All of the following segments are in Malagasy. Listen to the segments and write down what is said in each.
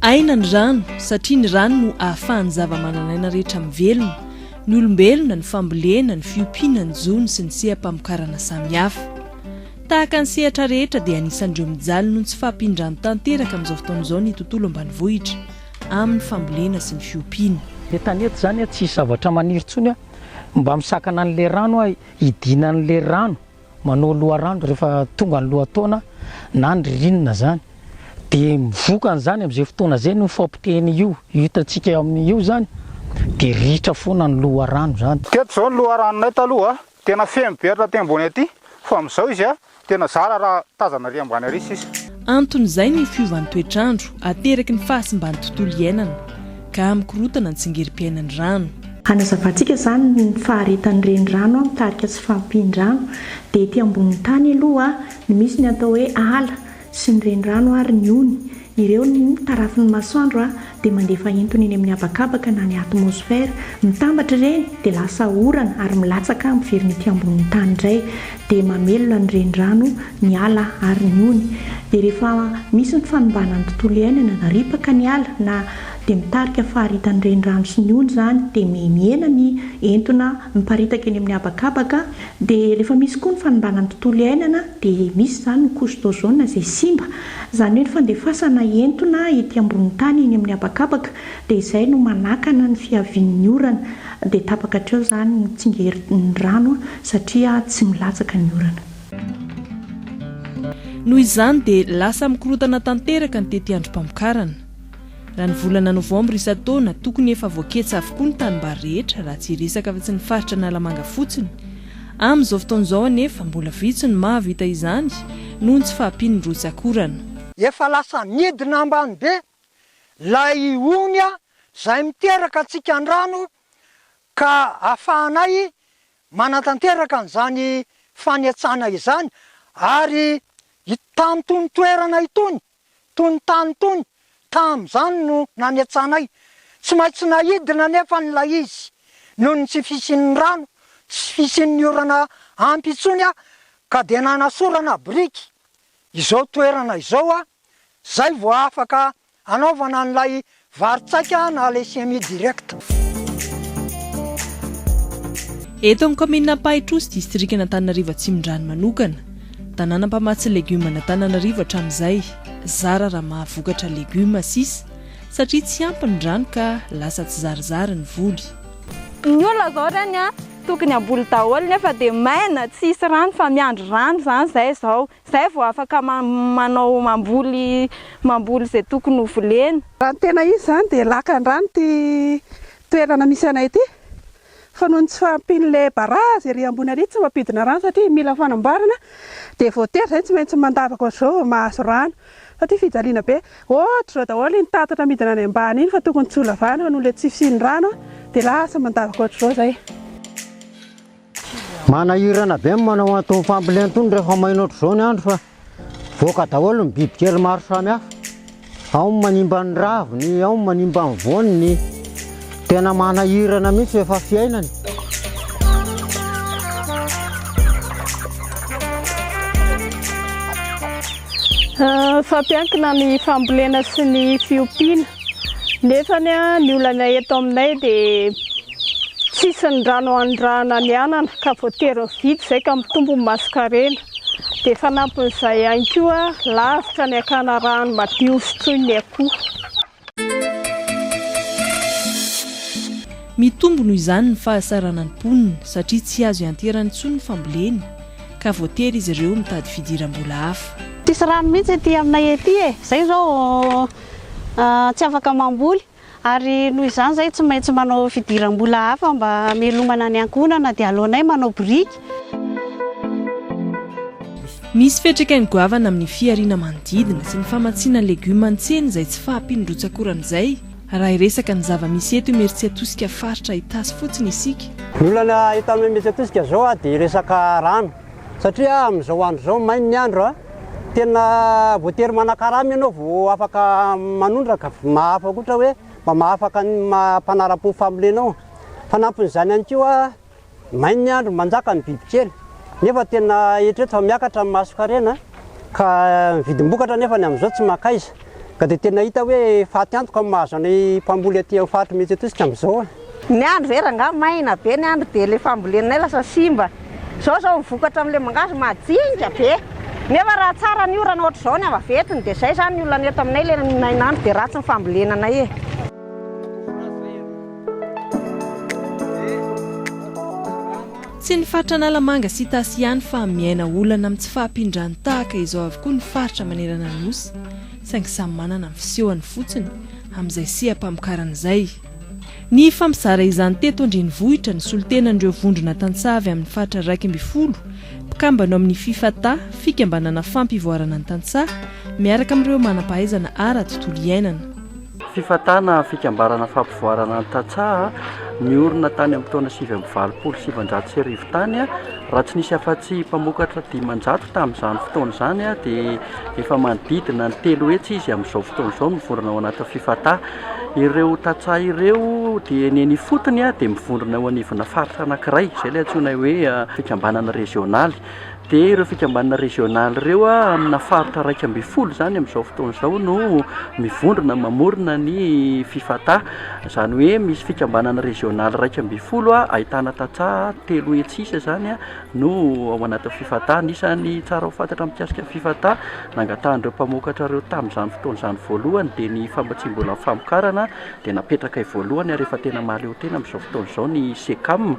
Aina ny rano satria ny rano no ahafahan'ny zavamananaina rehetra mivelona, ny olombelona, ny fambolena, ny fiompiana, ny jono sy ny seha-pamokarana samihafa. Tahaka ny sehatra rehetra dia anisan'ireo mijaly noho ny tsy fahampian-drano tanteraka amin'izao fotoana izao ny tontolo ambanivohitra amin'ny fambolena sy ny fiompiana. Etanety zany a tsisy zavatra maniry tsony a mba misakana anle rano a Hidinan'ilay rano manao loharano rehefa tonga ny lohataona na ny ririnina izany, dia mivoka an'izany amin'izay fotoana izay ny fampotehana io hitantsika eo amin'ny io izany dia ritra foana ny loharano izany. Teto izao ny loharanonay taloha tena feno be hatraty ambony aty fa amin'izao izy Tena zara raha tazana ary ambany ary sisa. Anton'izay ny fiovan'ny toetr'andro ateraky ny fahasimban'ny tontolo iainana, ka mikorontana ny tsingerim-piainan'ny rano. Hanazavantsika izany ny faharetan'ny renirano mitarika tsy fahampian-drano, dia ety ambonin'ny tany aloha no misy ny atao hoe ala sy ny renirano ary ny ony, Ireo no tarafin'ny masoandro dia mandefa entona eny amin'ny habakabaka na ny atmosphère, mitambatra ireny dia lasa orana ary milatsaka miverina ety ambonin'ny tany indray dia mamelona ny renirano, ny ala ary ny ony. Dia rehefa misy ny fanimbana ny tontolo iainana na ripaka ny ala na dia mitarika faharitan'ny renirano sy ny ony izany dia mihena ny entona miparitaka eny amin'ny habakabaka dia rehefa misy koa ny fanimbana ny tontolo iainana dia misy izany ny couche d'ozone izay simba Izany hoe ny fandefasana entona ety ambonin'ny tany eny amin'ny habakabaka dia izay no manakana ny fiavian'ny orana dia tapaka hatreo izany ny tsingerin'ny rano satria tsy milatsaka ny orana. Noho izany dia lasa mikorontana tanteraka ny tetiandrom-pamokarana. Raha ny volana novambra isan-taona, tokony efa voaketsa avokoa ny tanimbary rehetra, raha tsy hiresaka afa-tsy ny faritra Analamanga fotsiny. Amin'izao fotoana izao anefa, mbola vitsy no mahavita izany, noho ny tsy fahampian'ny rotsak'orana. Efa lasa midina ambany be ilay ony izay miteraka antsika ny rano, ka ahafahanay manatanteraka an'izany fanetsana izany, ary itony toerana itony tony tany tony tamin'izany no nanetsanay. Tsy maintsy naidina anefa ilay izy noho ny tsy fisian'ny rano, tsy fisian'ny orana ampy intsony aho ka dia nanasorana biriky izao toerana izao aho, izay vao afaka hanaovana an'ilay Vary tsaika na le semi direct. Eto amin'ny kaominina Ampahitrou sy distrikan'Antananarivo Atsimondrano manokana, tanàna mpamatsy legioma an'Antananarivo hatramin'izay, zara raha mahavokatra legioma sisa satria tsy ampy ny rano ka lasa tsizarizary ny voly. Ny olona zao reny a, tokony hamboly daholo nefa dia maina, tsy hisy rano fa miandry rano zany zay zao. Zay vao afaka manao mamboly mamboly zay tokony ho volena. Raha ny tena izy zany dia lakan-drano ity toerana misy anay ity fa noho ny tsy fahampian'ilay barazy ery ambony ary tsy mampidina rano satria mila fanamboarana dia voatery zay tsy maintsy mandavaka ohatr'izao vao mahazo rano fa ity fijaliana be ohatr'izao daholo iny tatatra midina any ambany iny fa tokony tsy ho lavana fa noho ilay tsy fisian'ny rano dia lasa mandavaka ohatr'izao zay. Manahirana be ny manao an'itony fambolena itony rehefa maina ohatr'izao ny andro fa voaka daholo ny bibikely maro samihafa. Ao ny manimba ny raviny, ao ny manimba ny voaniny. Tena manahirana mihitsy efa fiainana. Ah, fampiankina ny fambolena sy ny fiompiana. Nefa ny olana eto aminay dia Tsisy ny rano anondrahana ny anana ka voatery mividy izay ka mitombo ny masonkarena. Dia fanampin'izay ihany koa, lavitra ny hakana rano madio sotroiny ny akoho. Mitombo noho izany ny fahasaranan'ny mponina satria tsy azo ianteherana intsony ny fambolena ka voatery izy ireo mitady fidiram-bola hafa. Tsisy rano mihitsy ety aminay ety e! Izay izao tsy afaka mamboly. Ary noho izany izay tsy maintsy manao fidiram-bola hafa mba hamelomana ny ankohonana dia aleonay manao biriky. Misy fiantraikany goavana amin'ny fihariana manodidina sy ny famatsiana legioma an-tsena izay tsy fahampian'ny rotsak'orana izay raha hiresaka ny zava-misy eto Imeritsiatosika faritra Itasy fotsiny isika. Ny olana eto Imeritsiatosika izao dia resaka rano satria amin'izao andro izao mainy ny andro. Tena voatery manakarama ianao vao afaka manondraka. Mahafa koa ohatra hoe mba mahafaka ny maha mpanara-po ny fambolena ao. Fanampin'izany ihany koa, may ny andro, manjaka ny bibikely nefa tena eritrereto fa miakatra ny masonkarena ka ny vidim-bokatra anefa amin'izao tsy mankaiza. Ka dia tena hita hoe faty antoka ny mahazo anay mpamboly aty amin'ny faritry Mety Etosika amin'izao a! Ny andro ve rangaha maina be ny andro dia ilay fambolenay lasa simba. Izao izao ny vokatra amin'ilay mangahazo majinika be. Nefa raha tsara ny orana ohatr'izao ny avaventiny dia izay izany ny olana eto aminay ilay nainandro dia ratsy ny fambolena anay e! Tsy ny faritra Analamanga sy Itasy ihany fa miaina olana amin'ny tsy fahampian-drano tahaka izao avokoa ny faritra manerana ny Nosy, saingy samy manana ny fisehoany fotsiny amin'izay seha-pamokarana izay. Nifampizara izany teto an-drenivohitra ny solontenan'ireo vondrona tantsaha avy amin'ny faritra iraika ambin'ny folo, mpikambana ao amin'ny Fifata, Fikambanana Fampivoarana ny Tantsaha, miaraka amin'ireo manam-pahaizana ara-tontolo iainana. Fifatana fikambanana fampivoarana ny tantsaha niorina tany amin'ny taona sivy amby valopolo sy sivinjato sy arivo tany, raha tsy nisy afa-tsy mpamokatra dimanjato tamin'izany fotoana izany dia efa manodidina ny telo hetsy izy amin'izao fotoana izao no mivondrona ao anatin'ny fifata. Ireo tantsaha ireo dia ny eny ifotony dia mivondrona eo anivona faritra anankiray, izay ilay antsoinay hoe fikambanana rezionaly. dia ireo fikambanana régional ireo amina faritra iraika ambin'ny folo izany amin'izao fotoana izao no mivondrona mamorona ny fifata izany hoe misy fikambanana régional iraika ambin'ny folo a ahitana tantsaha telo hetsy sisa izany a no ao anatin'ny fifata anisan'ny tsara ho fantatra mikasika ny fifata nangatahan'ireo mpamokatra ireo tamin'izany fotoana izany voalohany dia ny famatsiam-bolan'ny famokarana dia napetrakay voalohany ary efa tena mahaleotena amin'izao fotoana izao ny Cecam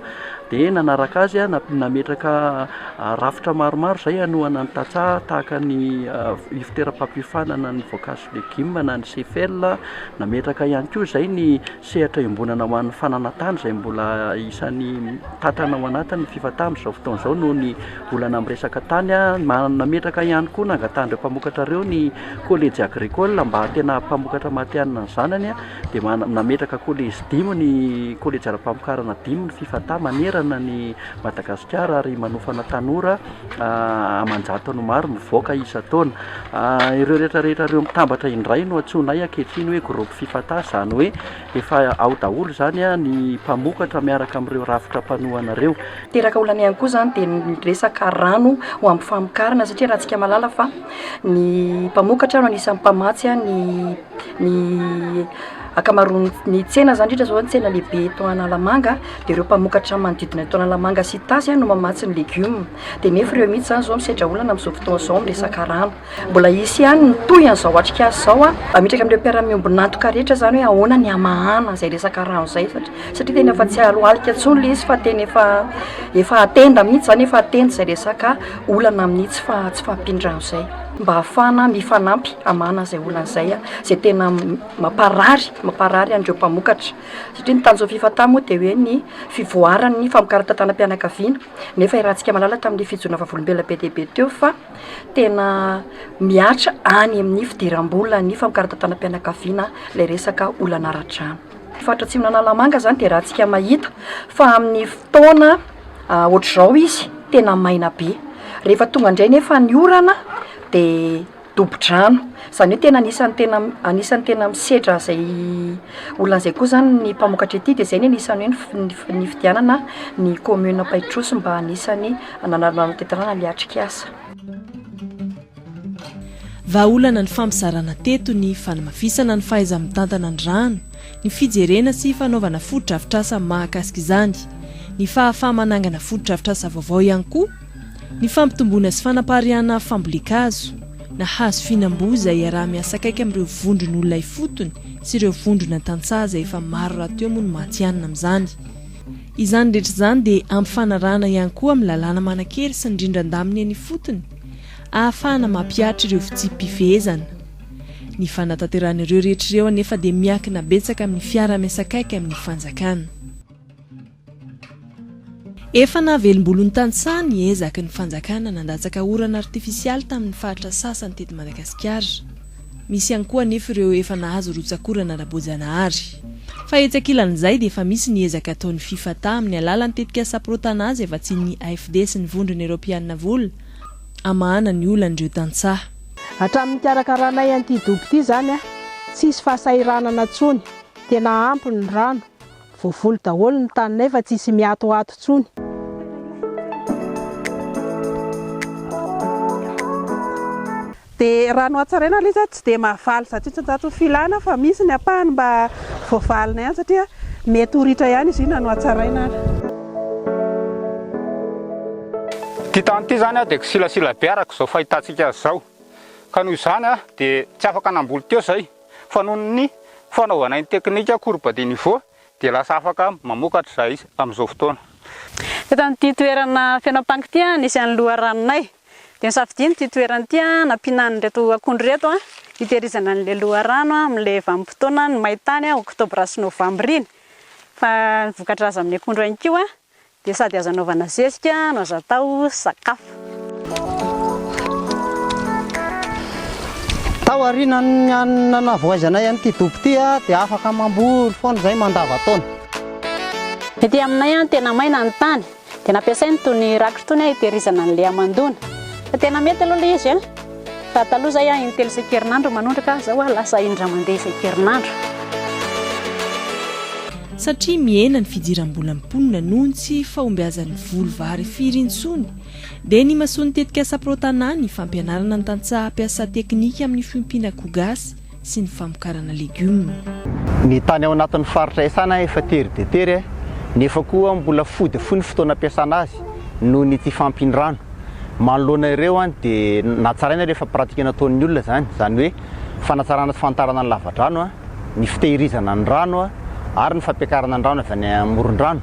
Dia nanaraka azy, nametraka rafitra maromaro izay hanohana ny tantsaha tahaka ny Ivoteram-pampiofanana ny Voankazo sy Legioma na ny CFL. Nametraka ihany koa izay ny sehatra iombonana ho an'ny fananantany izay mbola isan'ny tantana ao anatin'ny Fifata amin'izao fotoana izao noho ny olana amin'ny resaka tany. Nametraka ihany koa, nangatahan'ireo mpamokatra ireo ny Collège Agricole mba tena hampamokatra matihanina ny zanany. dia nametraka kolejy dimy ny kolejy ara-pamokarana dimy ny Fifata manerana ny Madagasikara ary manofana tanora aman-jatony maro mivoaka isan-taona. Ireo rehetrarehetra ireo mitambatra indray no antsoinay ankehitriny hoe groupe Fifata, izany hoe efa ao daholo izany ny mpamokatra miaraka amin'ireo rafitra mpanohana ireo. Teraka olana ihany koa izany dia ny resaka rano ho amin'ny famokarana satria raha antsika mahalala fa ny mpamokatra no anisan'ny mpamatsy ny ny akamaroany ny tsena zany indrindra zao ny tsena lehibe eto Analamanga de ireo mpamokatra ny manodidina eto Analamanga sy Itasy no mamatsy ny legioma de nefa ireo mihitsy zany zao misedra olana amin'izao fotoana izao amin'ny resaka rano mbola hisy ihany ny toy an'izao atrikasa izao a hametraka amin'ireo mpiara-miombon'antoka rehetra zany hoe ahoana ny hamahana izay resaka rano izay satria satria tena efa tsy halohalika intsony le izy fa tena efa efa atenda mihitsy zany efa atenda izay resaka olana amin'ny tsy fa- tsy fahampian-drano izay mba hahafahana mifanampy hamahana izay olana izay, izay tena mamparary mamparary an'ireo mpamokatra satria ny tanjon'ny Fifatah moa dia hoe ny fivoaran'ny famokaran-tantanam-pianakaviana nefa i Ratsika Malala tamin'ny fijoina vavolombelona be dia be teo fa tena mihatra any amin'ny fidiram-bola ny famokaran-tantanam-pianakaviana ilay resaka olana ara-drano. faritra atsimon'Analamanga zany dia rahantsika mahita fa amin'ny fotoana ohatr'izao izy tena maina be, rehefa tonga indray nefa ny orana dia dobo-drano, izany hoe tena anisan'ny tena anisan'ny tena misedra izay olona izay koa zany ny mpamokatra ety dia izay ny anisan'ny hoe nifidianana ny commune Ampahitrosy mba anisan'ny nanana ny tetikasa. Vahaolana ny fampizarana teto ny fanamafisana ny fahaiza-mitantana ny rano, ny fijerena sy fanaovana fotodrafitrasa mahakasika izany, ny fahafaha-manangana fotodrafitrasa vaovao ihany koa, ny fampitomboana sy fanapariahana fambolen-kazo na hazo fihinam-boa izay iaraha-miasa akaiky amin'ireo vondron'olona ifotony sy ireo vondrona tantsaha izay efa maro rahateo moa no matihanina amin'izany. Izany rehetra izany dia ampifanarahana ihany koa amin'ny lalàna manan-kery sy ny rindran-daminy eny ifotony, ahafahana mampihatra ireo fitsipi-pifehezana. Ny fanatanterahana ireo rehetra ireo anefa dia miankina betsaka amin'ny fiaraha-miasakaiky amin'ny fanjakana. Efa nahavelom-bolon'ny tantsaha ny ezaky ny fanjakana nandatsaka orana artifisialy tamin'ny faritra sasany teto Madagasikara. Misy ihany koa anefa ireo efa nahazo rotsak'orana ara-boajanahary. Fa etsy ankilan'izay dia efa misy ny ezaka ataon'ny Fifata amin'ny alalan'ny tetikasa Pro-Tanà izay vatsian'ny AFD sy ny Vondrona Eropeanina vola hamahana ny olan'ireo tantsaha. Hatramin'ny nikarakaranay an'ity dobo ity izany, tsy hisy fahasahiranana intsony. Tena ampy ny rano, Voavoly daholo ny taninay fa tsisy miatoato tsony. Dia raha ny hohatsaraina aloha izaho tsy dia mahavaly zato isan-jato ny filana fa misy ny ampahany mba voavalina ihany satria mety ho ritra ihany izy io na ny hohatsaraina ary. Ity tany ity izany dia kisilasila be araka izao fahitantsika azy izao ka noho izany dia tsy afaka namboly teo izahay. Fa noho ny fanaovanay ny teknika courbe de niveau dia lasa afaka mamokatra izahay amin'izao fotoana. Teto amin'ity toerana feno ampango ity nisy an'ny loharanonay. Dia nosafidiany ity toerana ity nampiana an'ireto akondro ireto hitehirizana an'ilay loharano amin'ilay vanim-potoanan'ny main-tany, oktobra sy novambra iny. Fa ny voka-draza amin'ny akondro ihany koa. Dia sady azo anaovana zezika no azo atao sakafo. Tao aorianan'ny nanavoazanay an'ity dobo ity dia afaka mamboly foana izahay mandavan-taona. Ety aminay tena maina ny tany dia nampiasaina itony rakitra itony hitehirizana ny leamandona. Tena mety aloha ilay izy. Za taloha zay a intelo isan-kerinandro manondraka, zao a lasa indray mandeha isan-kerinandro. Satria mihena ny fidiram-bolan'ny mponina noho ny tsy fahombiazan'ny voly vary firy intsony, dia nimasoan'ny tetikasa Pro Tanà ny fampianarana ny tantsaha hampiasa tekinika amin'ny fiompiana koa gasy sy ny famokarana legioma. Ny tany ao anatin'ny faritra Esana efa tery dia tery nefa koa mbola fohy dia fohy ny fotoana ampiasana azy noho ny tsy fahampian-drano. Manoloana ireo dia natsaraina rehefa pratika nataon'ny olona izany, izany hoe fanatsarana sy fanitarana ny lavadrano, ny fitehirizana ny rano ary ny fampiakarana ny rano avy any amoron-drano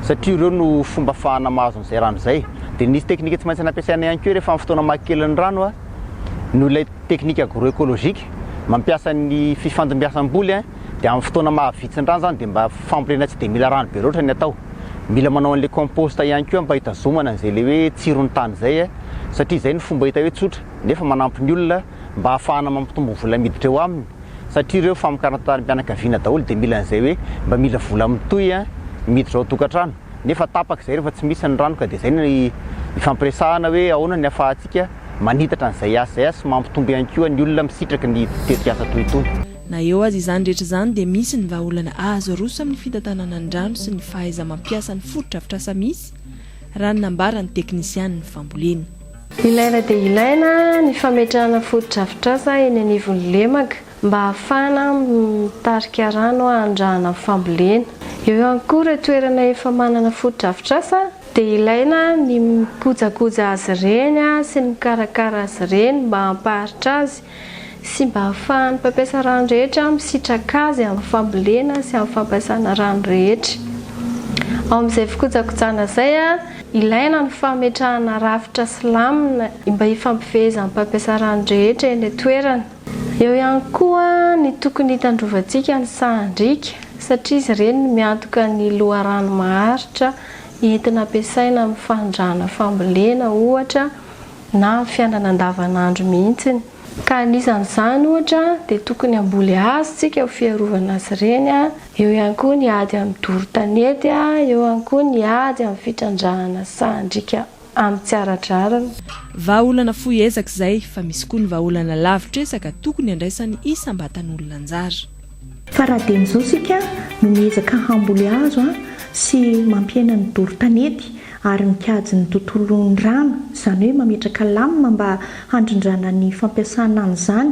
satria ireo no fomba ahafahana mahazo an'izay rano izay. Dia nisy teknika tsy maintsy nampiasaina ihany koa rehefa amin'ny fotoana maha kely ny rano noho ilay Technique agro-ecologique, mampiasa ny fifandimbiasam-boly dia amin'ny fotoana maha vitsin-drano izany dia mba fambolena tsy dia mila rano be loatra ny atao. Mila manao an'ilay compost ihany koa mba hitazomana an'izay ilay hoe tsiron'ny tany izay satria izay no fomba hita hoe tsotra nefa manampy ny olona mba hahafahana mampitombo vola miditra eo aminy satria ireo famokarana tanim-pianakaviana daholo dia mila an'izay hoe mba mila vola mitohy miditra ao an-tokantrano nefa tapaka izay rehefa tsy misy ny rano ka dia izay no ifampiresahana hoe ahoana ny ahafahantsika manitatra an'izay asa izay sy mampitombo ihany koa ny olona misitraky ny tetikasa toy itony. Na eo aza izany rehetra izany dia misy ny vahaolana azo aroso amin'ny fitantanana ny rano sy ny fahaiza-mampiasa ny fotodrafitrasa misy, raha ny nambaran'ny teknisianin'ny fambolena. Ilaina dia ilaina ny fametrahana fotodrafitrasa eny anivon'ny lemaka mba ahafahana mitarika rano handrahana fambolena. Eo ihany koa ireo toerana efa manana fotodrafitrasa dia ilaina ny mikojakoja azy ireny sy ny mikarakara azy ireny mba hampaharitra azy sy mba hahafahan'ny mpampiasa rano rehetra misitraka azy amin'ny fambolena sy amin'ny fampiasana rano rehetra. Ao amin'izay fikojakojana izay, ilaina ny fametrahana rafitra silamina mba hifampifehezan'ny mpampiasa rano rehetra eny an-toerana. Eo ihany koa ny tokony hitandrovantsika ny sahan-driaka satria izy ireny no miantoka ny loharano maharitra entina ampiasaina amin'ny fanondrahana fambolena ohatra na amin'ny fiainana andavanandro mihitsiny, ka anisan'izany ohatra dia tokony hamboly hazo isika ho fiarovana azy ireny, eo ihany koa ny ady amin'ny doro tanety, eo ihany koa ny ady amin'ny fitrandrahana sahan-driaka. amin'ny tsy ara-drariny. Vahaolana fohy ezaka izay, fa misy koa ny vahaolana lavitresaka tokony handraisan'ny isam-batan'olona anjara. Fa raha dieny izao isika no miezaka hamboly hazo sy mampihena ny doro tanety ary mikajy ny tontolon'ny rano, izany hoe mametraka lamina mba handrindrana ny fampiasana an'izany,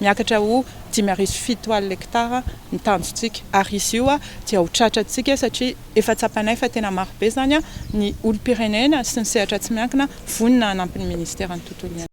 Miakatra ho dimy arivo fito alina hektara ny tanjontsika ary izy io dia ho tratra antsika satria efa tsapanay fa tena maro be izany ny olom-pirenena sy ny sehatra tsy miankina vonona hanampy ny Ministeran'ny Tontolo iainana.